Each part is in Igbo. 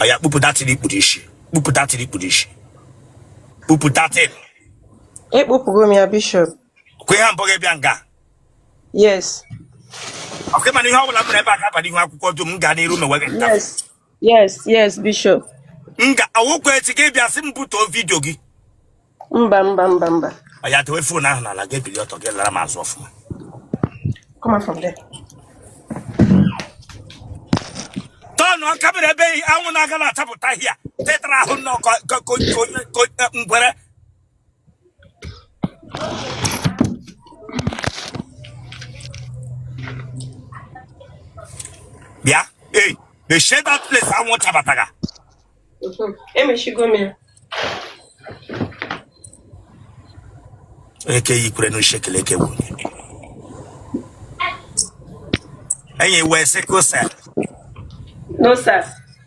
ọya kpupụ that thing i kpu n'isi kpupụ that thing i kpu n'isi kpupụ that thing ekpupụgo m ya bishọp kwe ha mbọ gị bịa nga yes ọkwa ị ma na ihe ọ bụla m na ebe a ga-abanye ihu akwụkwọ dum m gaa n'iru mewe gị nta yes yes yes bishọp m ga-awụkwa echi gị bịa sị m butuo vidio gị mba mba mba mba ya dewe fon ahụ n'ala gị ebili ọtọ gị lara m azụ ọfụma come on from there tọnụọ ka mere ebe anwụ na-aga na-achapụta ihe tetara ahụ nnọọ ka onye ngwere bịa ee the shade that place anwụ chabataga emechigo m ya eke yikwere n'ushekele eke wunye enyi wee sị ka ose no sir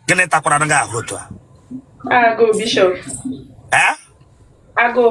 gịnị takwaranụ gị ahụ otu a agụụ bishọp ee agụụ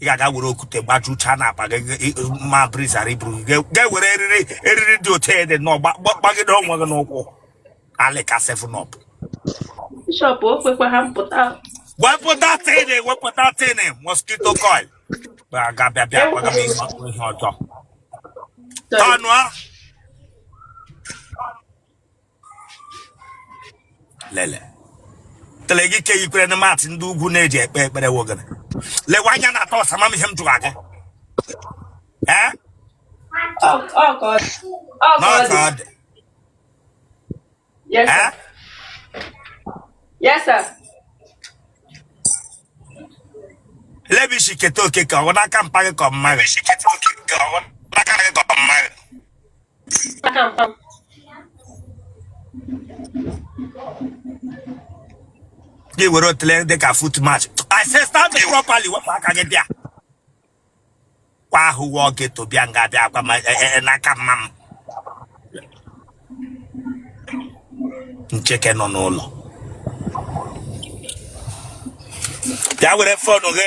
ị ga-aga were okwute gbajucha n'akpa gị ma breeze ghara iburu gị ga were eriri eriri dị otu ede nọ gbagide onwe gị n'ukwu alịka seven up bishọp o kwekwa ha mpụta wepụ that thing wepụ that thing mosquito coil ga bịa bịa gbaga m ihe ọjọọ tọnụọ lele otele gị ke yikwere na matị ndị ugwu na-eji ekpe ekpere wogana lewe anya na atọ ọsama m ihe m jụrụ aga ee Ọ ọ ka ọ dị. Ọ ka ọ n'ọka dị. ọ dị Yes, ee sir. Yes, sir. olee ebe i shi keta oke ka ọ bụ n'aka mpa gị ka ọ mma gị gị were otule dị ka foot match I say stand me properly wepụ aka gị bịa kwa ahụ wụọ gị to bịa nga bịa akwa ma- e- e- e- n'aka mma m ncheke nọ n'ụlọ bịa were fonu gị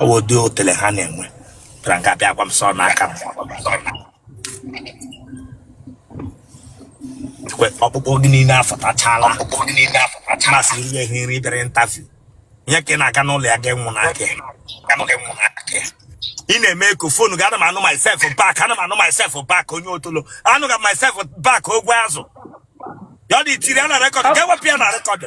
ọ bụ ụdị otele ha na-enwe bịara nga bịa gwa m sọ n'aka m Ekwe, ọkpụkpụ gị niile afụtachala ma a sị ihe ihe nri bịara interview ihe ka ị na-aga n'ụlọ ya ga-enwụ n'aka ya. ị na-eme eko fonu gị ana m anụ myself back ana m anụ myself back onye otolo anụ ga myself back ogwe azụ ya ọ dị itiri a na rekọdụ ga-ewepụ ya na rekọdụ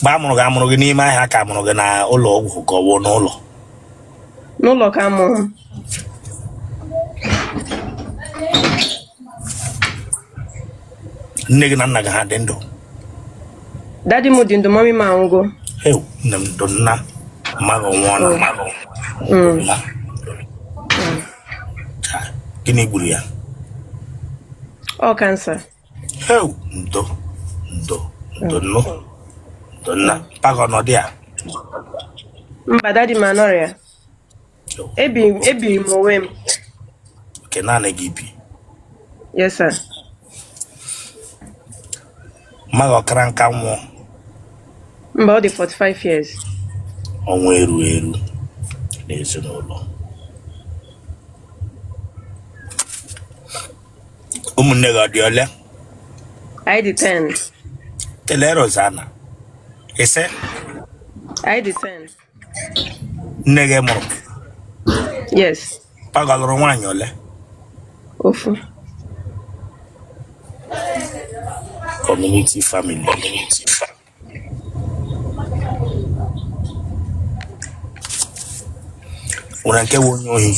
mgbe a mụrụ gị a mụrụ gị n'ime ahịa ka a mụrụ gị na ụlọ ọgwụ ka ọ bụ n'ụlọ n'ụlọ ka a mụrụ m nne gị na nna gị ha dị ndụ dadi m dị ndụ mami m anwụgo ewu nne m ndo nna mma gị nwụọ nna m gịnị gburu ya ọ kansa Heu, ndo ndo ndo nnọọ ndo nna mpa gị ọ nọ dị ya mba dadi m anọrọ ya ebiri m ebiri m onwe m nke naanị gị i bi yes sir mma gị ọ kara nka nwụọ mba ọ dị 45 years ọnwụ eru eru n'ezinụlọ ụmụnne gị ọ dị ole I depend. kelee rozana ise I depend. nne gị mụrụ Yes. mpa gị lụrụ nwaanyị ole Ofu. community family community family nwere nke bụ onye ohi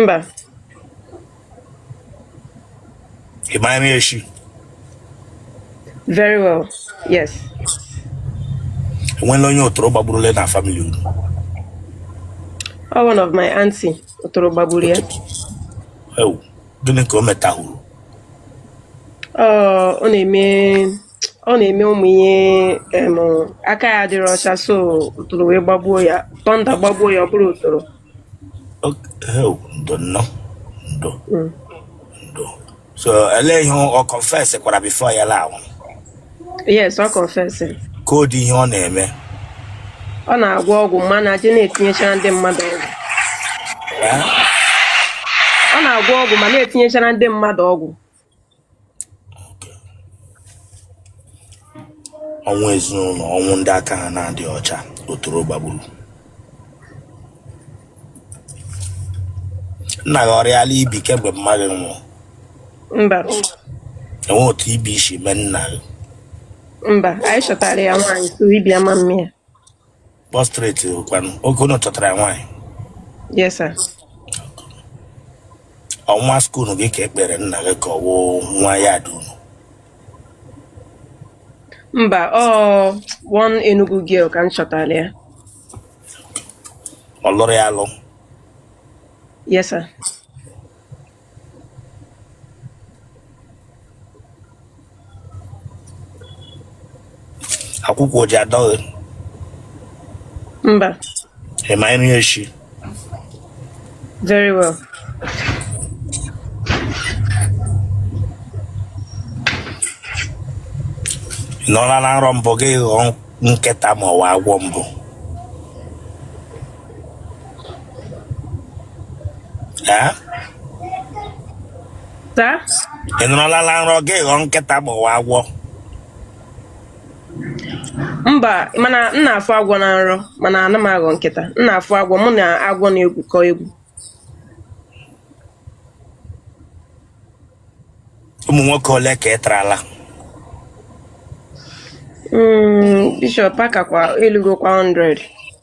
mba ị mara nri esi very well yes e nweela onye otoro gbagburule na famili unu ọ one of my auntie Otoro gbagburu ya. Ewu, gịnị ka o metahuru? Ọ ọ na-eme ọ na-eme ụmụ ihe em, aka ya adịrọ ọcha so otoro wee gbagbuo ya tọnda gbagbuo ya ọ bụrọ otoro Ok, Ewu, ndo nnọọ, ndo, Mm. ndo. so elee ihe ọ confess kwara before ya la anwụ yes ọ confessing kọọ ụdị ihe ọ na-eme ọ na-agwọ ọgwụ ma na-aje na-etinyechara ndị mmadụ ọgwụ Eh? ọ na-agwọ ọgwụ ma na-etinyechara ndị mmadụ ọgwụ ọnwụ ezinụlọ ọnwụ ndị aka ha na-adịghị ọcha otoro gbagburu nna gị ọ rịala ibi kemgbe mma gị nwụrụ mba e nwe otu ibi si mee nna gị mba anyị chọtara ya nwaanyị so ibi ama mịa Prostrate kwanụ oge unu chọtara ya nwaanyị Yes, sir. ọ nwa skuul gị ka ekpere nna gị ka ọ wụ nwa yard unu Mba, ọ one Enugu girl ka m chọtara ya. ọ lụrụ ya alụ Yes, sir. akwụkwọ oji adọghị mba ịma nri echi very well ị nọọla na nrọ mbụ gị ghọọ nkịta ma ọ wụ agwọ mbụ Ee? Taa? ị nọrọlala nrọ gị ghọọ nkịta ma ọ wụ agwọ Mba, mana m na-afụ agwọ na nrọ, mana ana m aghọ nkịta. M na-afụ agwọ, mụ na agwọ na-egwukọ egwu. ụmụ nwoke ole ka ị tarala Mm, Bishop akakwa elugokwa 100.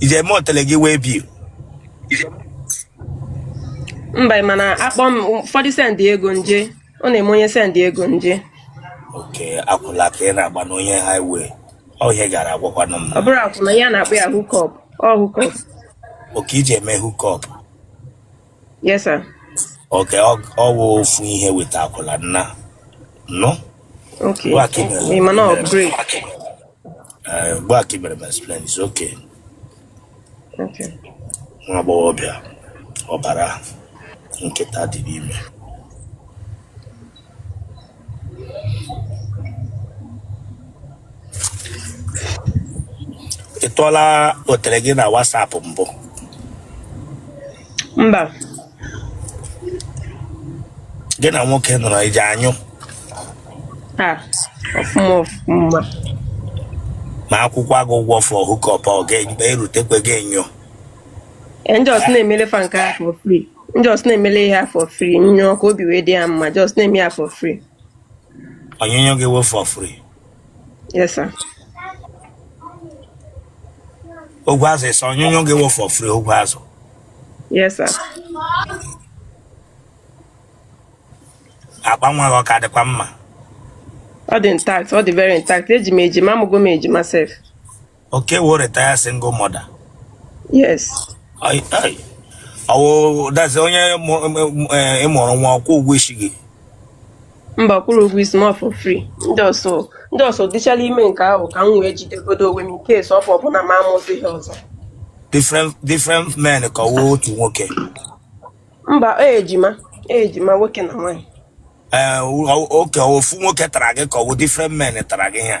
i ji eme otele gị waybill mba ị ma na a kpọọ m ụfọdụ send ego nje ọ na-eme onye send ego nje okay akwụla ka ị na-agba n'onye highway ọ ihe ị gara agwakwanụ m ọ bụrọ akwụna ihe a na-akpọ ya hookup ọ hookup okay i ji eme hookup Yes, sir. Okay, ọ ọ bụ ofu ihe with akwụla nna nọ Okay. ngwa ka ị mere Ị ma na ị mere m upgrade. eh, ngwa ka ị mere m explain is okay Okay. nwa agbọghọbịa ọbara nkịta dị n'ime ị tụọla otere gị na WhatsApp mbụ mba gị na nwoke nọrọ i ji anyụta ọfụma ọfụma ma a kwụkwaa gị ụgwọ for hookup ọ ga-erutekwe gị enyo ndị ọsụ na-emele fa nke ahụ for free Just na-emele ha for free nyụọ ka obi wee dị ha mma just na-eme ya for free. Onyinyo gị wee for free. Yes sir. Ogwe azụ ịsa onyinyo gị wee for free ogwe azụ. Yes sir. Akpa nwa gị ọ ka dịkwa mma. Ọ dị intact, ọ dị very intact. Eji m ejima, amụgo m ejima sef. Okay, what retire single mother. Yes. I, I, oh, that's onye eh, ị mụụrụ nwa ọ kwụrụ ụgwọ isi gị. Mba ọ kwụrọ ụgwọ isi m for free. Ndị ọsọ ndị ọsọ dịchala ime nke ahụ ka m wee jidegodo onwe m nke esi ọfọ ọbụla ma amụzi ihe ọzọ. Different different men ka ọ wụ otu nwoke. Mba ejima ejima nwoke na nwaanyị. Ee eh, okay ofu nwoke tara gị ka ọ wụ different men tara gị ya.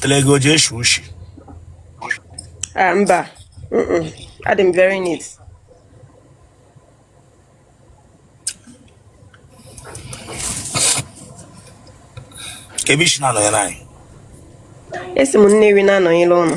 Telego ji eshi ushi. Ah, mba. Mm-mm. Adị m very neat. Kebe i shi na-anọnyere anyị. Esi m Nnewi na-anọnyere ụnụ.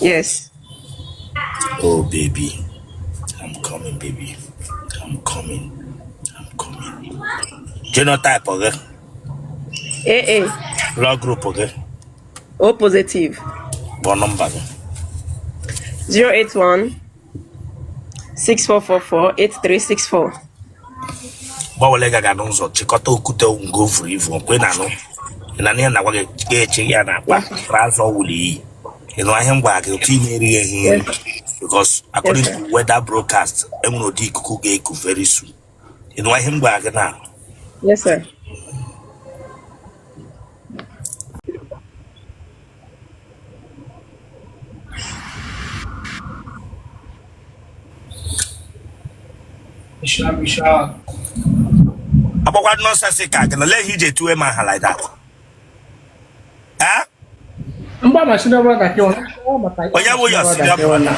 Yes. Oh, baby. I'm coming, baby. I'm coming. I'm coming. Genotype, okay? AA. Blood group, okay? O positive. What number? Okay? 081 64448364 gbanwere gaga n'ụzọ chịkọta okwute ngo vuru ivu ọ kwa ị na-anụ ihe m na-agwa gị ga-eche ya n'akpa azụ ọwụla i yi ị nụ ihe a m gwa gị otu ihe erighị ehi nri because according to weather broadcast enwere ụdị ikuku ga-eku very soon ị nụ ihe a m gwa gị na agbakwa nonsense ka gị na lee ihe i ji etuwe m aha like that Eh? mgba ma senior brother gị ọ na-akọwa maka onye bụ your senior brother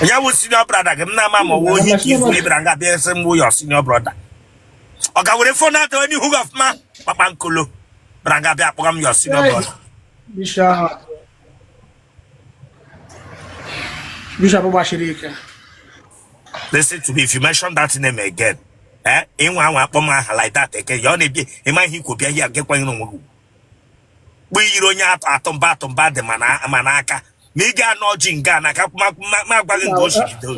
onye bụ senior brother gị m na-ama ma ọ wụ ohi ka ihu ị bịara nga bịa sị m bụ your senior brother ọ ka were fon atọ n'ihu gị ọfụma kpakpankolo bịara nga bịa akpọga m your senior brother bishop gbachiri ike listen to me if you mention that name again eh ị nwa anwa kpọọ m aha like that again ya ọ na-ebi ị ma ihe i kwu bịa ihe agakwaghị n'onwe gị kpụ i yiri onye atọ atụmba atụmba dị ma n'aka ma ị ga-anọ ọjị nga na ka ma agwaghị nga o si bido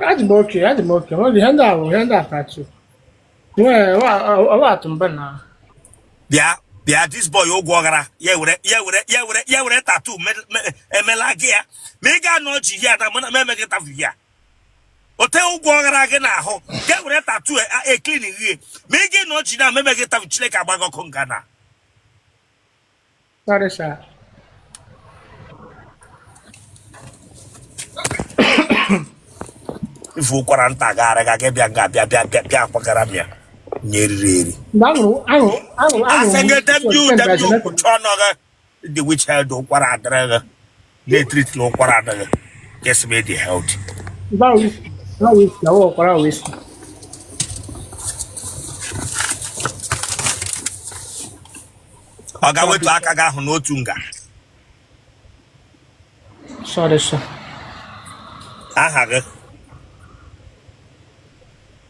adị m oke adị m oke ihe ndị ahụ ihe ndị akachi bịa bịa this boy ụgwọ ọghara ya were ya were ya were ya were tatu emela gị ya ma ị ga-anọ ọchị ihe ada mana m emeghị tafu ya ote ụgwọ ọghara gị n'ahụ ga were tatu e-clean e, ghe ma ị ga-anọ ọchị na memeghị tafu chineke agba gị ọkụ nga na Sorry, sir. ị fụ ụkwara nta gara aga gị bịa nga bịa bịa bịa bịa akwagara m ya onye eriri eri Mgbe ahụ, ahụ, ahụ, ahụ. asị gị damn you damn you kụchie ọnụ gị the which health ụkwara adịrị gị na-etreat na ụkwara adịghị just be the health ụkwara whisky ọ ga-wetu aka gị ahụ n'otu nga sorry sir aha gị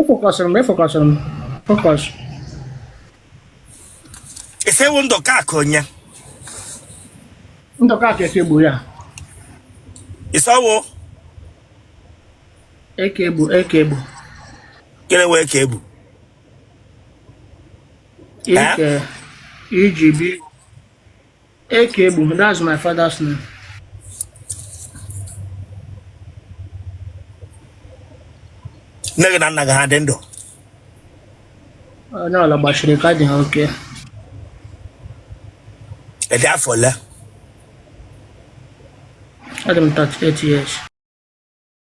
efọkọsịrị m efọkọsịrị m fọkọs ị sị ị wụ Ndụkaakụ onye Ndụkaakụ Eke Egbu ya ị sị ọ wụ eke egbu eke egbu kere wee ka ebu ike iji bi Eke Egbu, that's my father's name. Nne gị na nna gị ha dị ndụ? Onye ọla gbashiri ike adị ha okay. Ị dị afọ ole? Adị m 38 years.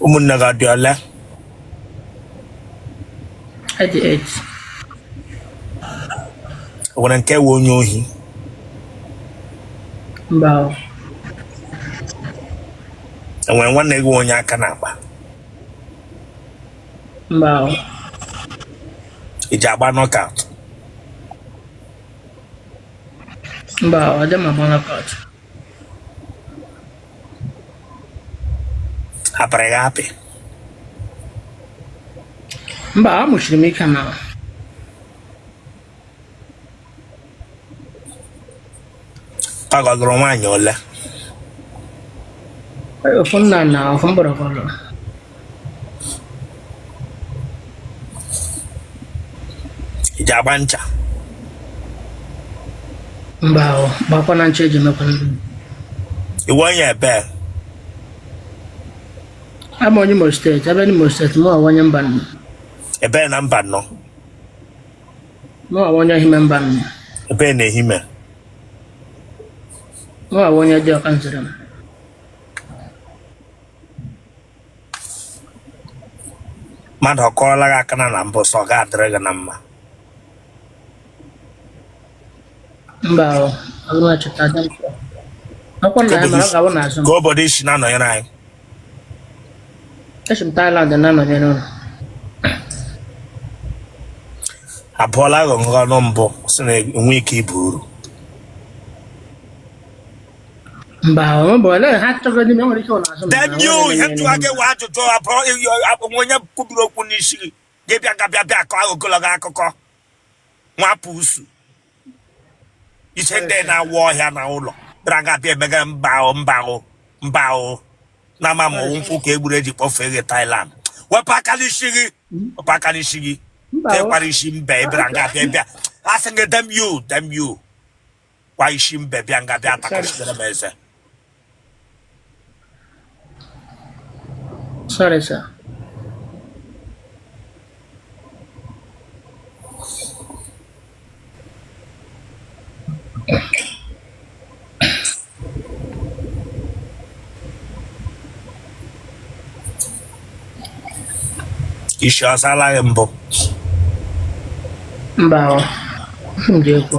ụmụnne gị adị ole Adị eight. o nwere nke wụ onye ohi Mba o. o nwere nwanne gị wụ onye aka na-akpa Mba o. ị ji agba knockout Mba o. Adị m agba knockout. apịrị gị apị mba amụ shiri m ike na ọ gọgụrụ nwaanyị ole ofu nna na ofu mgbọrọgwụ ị ji agba ncha mba o agbakwana ncha eji emekwa nri ị wụ onye ebe awụ m onye Imo steeti ebe n'Imo steeti mụ awụ onye Mbano ebe na Mbano mụ awụ onye Ehime Mbano ebe na Ehime mụ awụ onye Dioka Nzerem mmadụ ọ kụọla gị aka na na mbụ sọ ga adịrị gị na mma mba ọ bụrụ na chọta aja m chọrọ. Akwụkwọ nna ya mara ọ ga-abụ n'azụ m. ka obodo isi na-anọnyere anyị Esi m Thailand na-anọnyere ụlọ. abụọla gị ọnụ mbụ sị na enwe ike ibu uru then you ihe m jụwa gị wụ ajụjụ abụrụ onye kwubiri okwu n'isi gị gị bịa gabịa bịa akọ ogologo akụkọ nwapụ usu ise ndị na-awụ ọhịa na ụlọ bịara gabịa emega mba ahụ mba ahụ mba ahụ na ama ma nkwụ ka egburu eji kpọfee gị Thailand wepụ aka n'isi gị wepụ aka n'isi gị tekwara isi mba ịbịara gabịa bịa asị gị damn you damn you kwa isi mbe bịa nga bịa takọchitere m eze Sorry, sir. isi ọsala gị mbụ mba ọ, m ji ekwu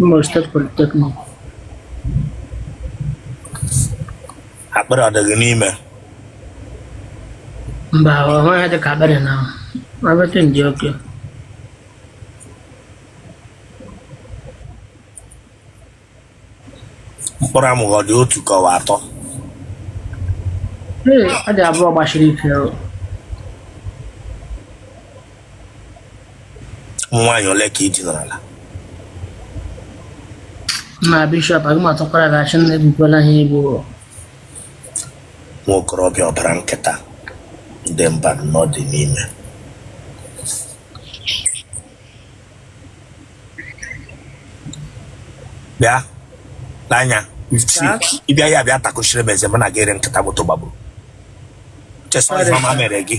Imo State Polytechnic. akpịrị ọ dị gị n'ime Mba, ọ nweghị dị ka akpịrị na everything dị okay. mkpụrụ amụ gị ọ dị otu ka ọ wụ atọ Ee, ọ dị abụọ gbasiri ike. nwaanyị ole ka i dinarala bishọp aga m atọkwara gị ọchị nna ebukwala ha egbu nwa okorobịa ọbara nkịta ndị mba nọ dị n'ime bịa n'anya ịbịa ya bịa takụchiri m eze mụ na gị ere nkịta moto gbagburu chezọ ihe ọma mere gị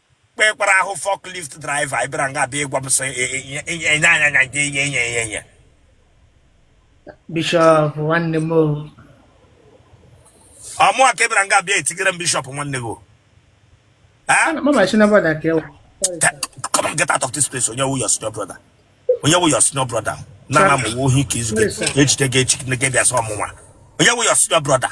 kpekwara ahụ forklift driver anyị bịara nga bịa ịgwa m sị enye anya anya nke enye enye enye enye bishọp nwanne m ọ mụwa ka ị bịara nga bịa etigere m bishọp nwanne gị come and get out of this place onye wụ your senior brother onye wụ your senior brother na na m wụ ohi ka izu gị e jide gị echi gị bịa sị ọ mụnwa onye wụ your senior brother